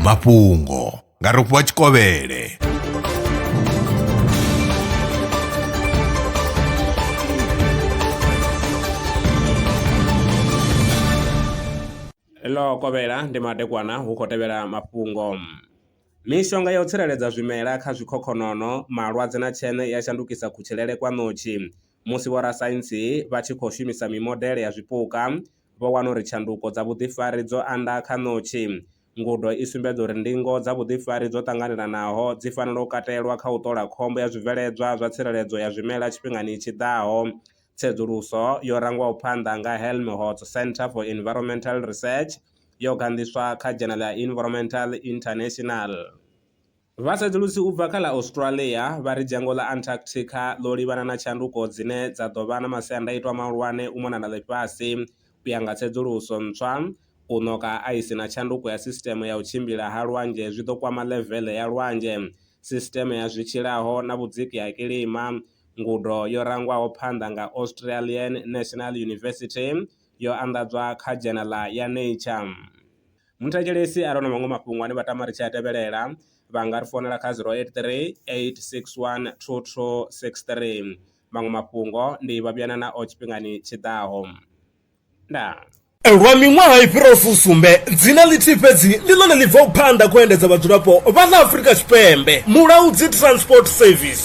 mafhungo nga rofhiwa tshikovhele ḽo kovhela ndi madekwana hu khou tevhela mafhungo mishonga ya u tsireledza zwimela kha zwikhokhonono malwadze na tsheṋe ya shandukisa kutshilele kwa ṋotshi musi vhorasaintsi vha tshi khou shumisa mimodele ya zwipuka vho wana uri tshanduko dza vhuḓifari dzo anda kha ṋotshi. Ngudo i sumbedza uri ndingo dza vhuḓifari dzo ṱanganelanaho dzi fanela u katelwa kha u ṱola khombo ya zwibveledzwa zwa tsireledzo ya zwimela tshifhingani tshi ḓaho. Tsedzuluso yo rangwaho phanḓa nga Helmholtz Centre for Environmental Research yo ganḓiswa kha Dzhenala ya Environmental International. Vhatsedzulusi u bva kha ḽa Australia vha ri dzhango ḽa Antarctica ḽo livhana na tshanduko dzine dza ḓo vha na masiandaitwa mahulwane u mona na ḽifhasi. U ya nga tsedzuluso ntswa, u ṋoka ha aisi na tshanduko ya sisiteme ya u tshimbila ha lwanzhe zwi ḓo kwama ḽeveḽe ya lwanzhe, sisiteme ya zwi tshilaho na vhudziki ha kilima. Ngudo yo rangwaho phanḓa nga Australian National University yo anḓadzwa kha dzhenala ya Nature. Muthetshelesi are na maṅwe mafhungo ane vha tama ri tshi a tevhelela vha nga ri founela kha 083 861 2263. Maṅwe mafhungo ndi vha vhuyana nao tshifhingani tshi ḓaho. Ndaa. Lwa miṅwaha i fhiraho fusumbe, dzina ḽithihi fhedzi ndi ḽone ḽi bvaho phanḓa khou endedza vhadzulapo vha ḽa Afrika Tshipembe, Mulaudzi Transport Service.